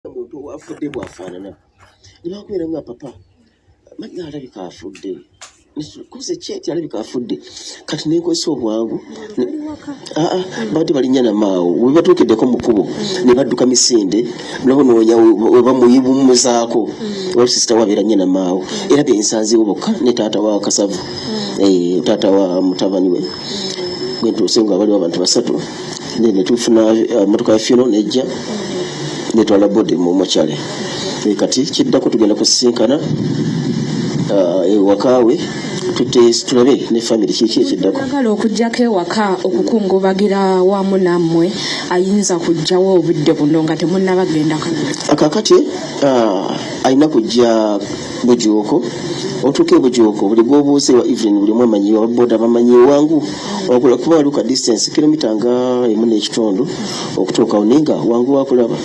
omuntu afudde bwafaanana nebakubeera nga papa manya alabika afudde kuze kyeti alabika afudde kati nenkozesa obwangu ah, ah, babadde balinya namaawo webatuukiddeko mukubo nebadduka misinde nabo noonya webamuyibumuzaako mm. wali sisita wabeera nya namaawo mm. era byensanzewo bokka ne taata wa kasavu mm. eh, taata wa mutabani we gwentuuse nga waliwo abantu basatu ne ne tufuna uh, motoka ya fino nejja ne twala body mu mochale e kati kiddako tugenda kusisinkana uh, ewakawe tutte tulabe ne family kiki ekiddako agala okujjako ewaka okukungubagira wamu nammwe ayinza kujjawo obudde buno nga temunabagenda kakati uh, alina kujja bujuuko otuuka ebujuuko buli gwobuuza ewa evelyn buli mwamanyi ababoda bamanyi ewangu wakula kuba waliwo ka distance kilomita nga emu n'ekitundu okutuukawo naye nga wangu wakulaba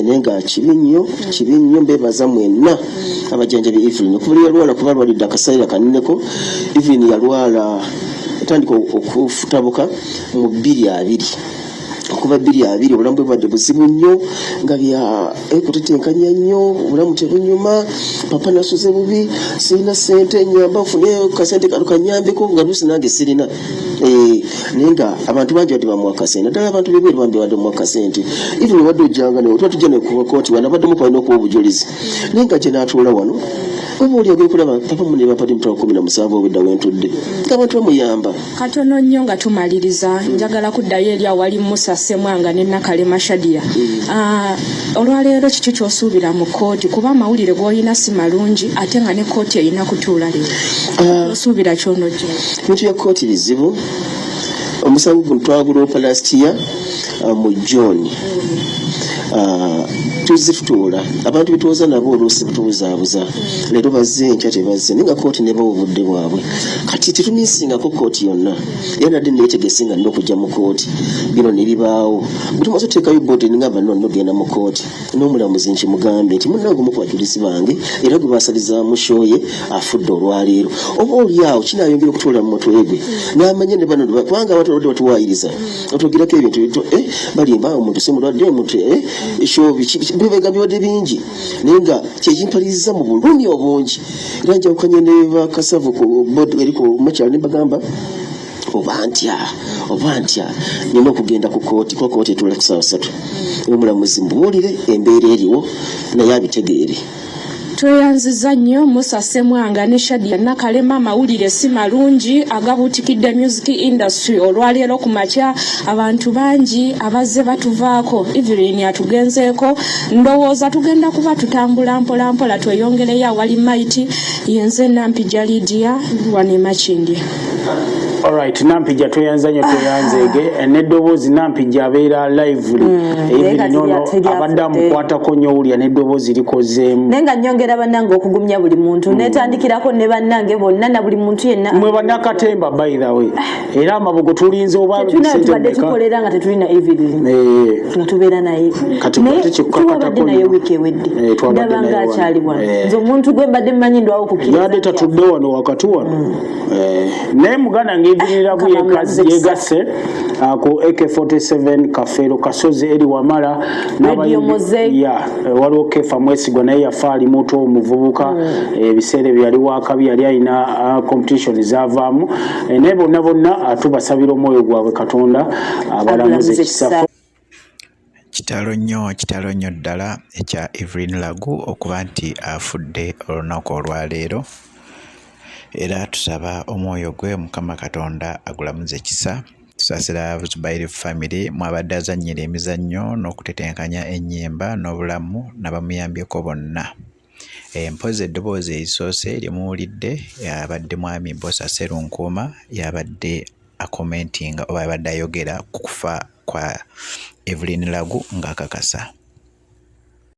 naye nga kibi nnyo kibi nnyo mbebaza mwenna abajanjabi evelyn okubuli yalwala kuba lwalidde akasaira kaneneko evelyn yalwala etandika okufutabuka mu bbiri abiri okuva bbiri abiri obulamu bwe bwadde buzibu nnyo nga bya ekutetenkanya eh, nnyo obulamu tebunyuma papa nasuze bubi sirina sente nyamba nfune kasente kano kanyambeko nga lusi nange sirina eh, naye nga abantu bangi badde bamuwa kasente naddala abantu bebweru bambi badde muwa kasente even obadde ojjanga naye otuba tujja nekubakooti wano abaddemu kwalina okuba obujulizi naye nga gye natuula wano oba oli agekulaba papa munebapadi mutwakumi na musanvu obudda wentudde nga abantu bamuyamba katono nnyo nga tumaliriza njagala kuddayo eri awali musa semwanga ne nakalema shadia mm. ah, olwaleero kiki kyosuubira mu kooti kuba amawulire gwoyina si malungi ate nga ne kooti erina kutuula leero ah. osuubira kyonojo bintu bya kooti bizibu omusango guno twaguloopa last year uh, mu john uh, tuzifutula abantu betuwoza nabo oluusi batubuzabuza leero bazze enkya tebazze naye nga kooti nebawa obudde bwabwe kati tetuminsingako kooti yonna era nadde netegese nga nina okujja mu kooti bino nebibaawo bwetumaze oteekayo bodi ningamba no nogenda mu kooti n'omulamuzi nkimugambe nti munange omu kubajulizi bange era gwe basalizaamu shoye afudde olwaleero oba olyawo kinayongera okutoola mu mutwe gwe n'amanya ne bano kubanga abatolodde batuwayiriza otwogerako ebintu bintu eh, balimba omuntu si mulwadde omuntu eh, ekyo bibega bibadde bingi naye nga kyekimpaliriza mu bulumi obungi era njawukanye ne bakasavu ku bod eri ku makyalo ne bagamba oba ntya oba ntya nina okugenda ku kooti kuba kooti etula ku saawa satu omulamuzi mubuulire embeera eriwo naye abitegeere tweyanziza nnyo musa semwanga ne shadia nakalema amawulire si malungi agabuutikidde music industry olwaleero ku makya abantu bangi abazze batuvaako evelyn atugenzeeko ndowooza tugenda kuba tutambula mpolampola tweyongereyo awali maiti yenze nampi jalidia wanemakindye Alright, Nampija tweyanza nyo tweyanza ege eh, n'eddoboozi Nampija abeera lively mm, even eh, nono abadde amukwatako nyo wulya n'eddoboozi likozeemu naye nga nyongera bannange okugumya buli muntu mm. netandikirako ne bannange bonna na buli muntu yenna mwe bannakatemba by the way ah. era amabugo tulinze obatubadde tukolera nga tetulina evidence eh. nga tubeera naye tuwabadde naye wiiki ewedde ndaba nga akyali wano nze omuntu gwe mbadde mmanyi ndwawo kukira yadde tatudde wano wakati wano mm. Eh, naye muganda ngevinira ku yekazi yegase ah, ku ak47 kafeero kasozi eri wamala ya eh, waliwo kefa mwesigwa naye yafa ali muto omuvubuka hmm. eh, ebiseera ebyo yali wakabi yali alina ah, competition zavaamu naye bonna bonna ah, tubasabira omwoyo gwabwe katonda abalamuza ekisafo Kitalo nnyo kitalo nnyo ddala ekya Evelyn Lagu okuba nti afudde olunaku olwaleero era tusaba omwoyo gwe Mukama Katonda agulamuze kisa tusasira Zubairi famire mwabadde azannyira emizannyo n'okutetenkanya ennyimba n'obulamu nabamuyambyeko bonna eh, mpozi eddoboozi erisoose lyemuwulidde yabadde mwami Bosa Serunkuuma yabadde akomentinga oba abadde ayogera ku kufa kwa Evelyn Lagu ng'akakasa.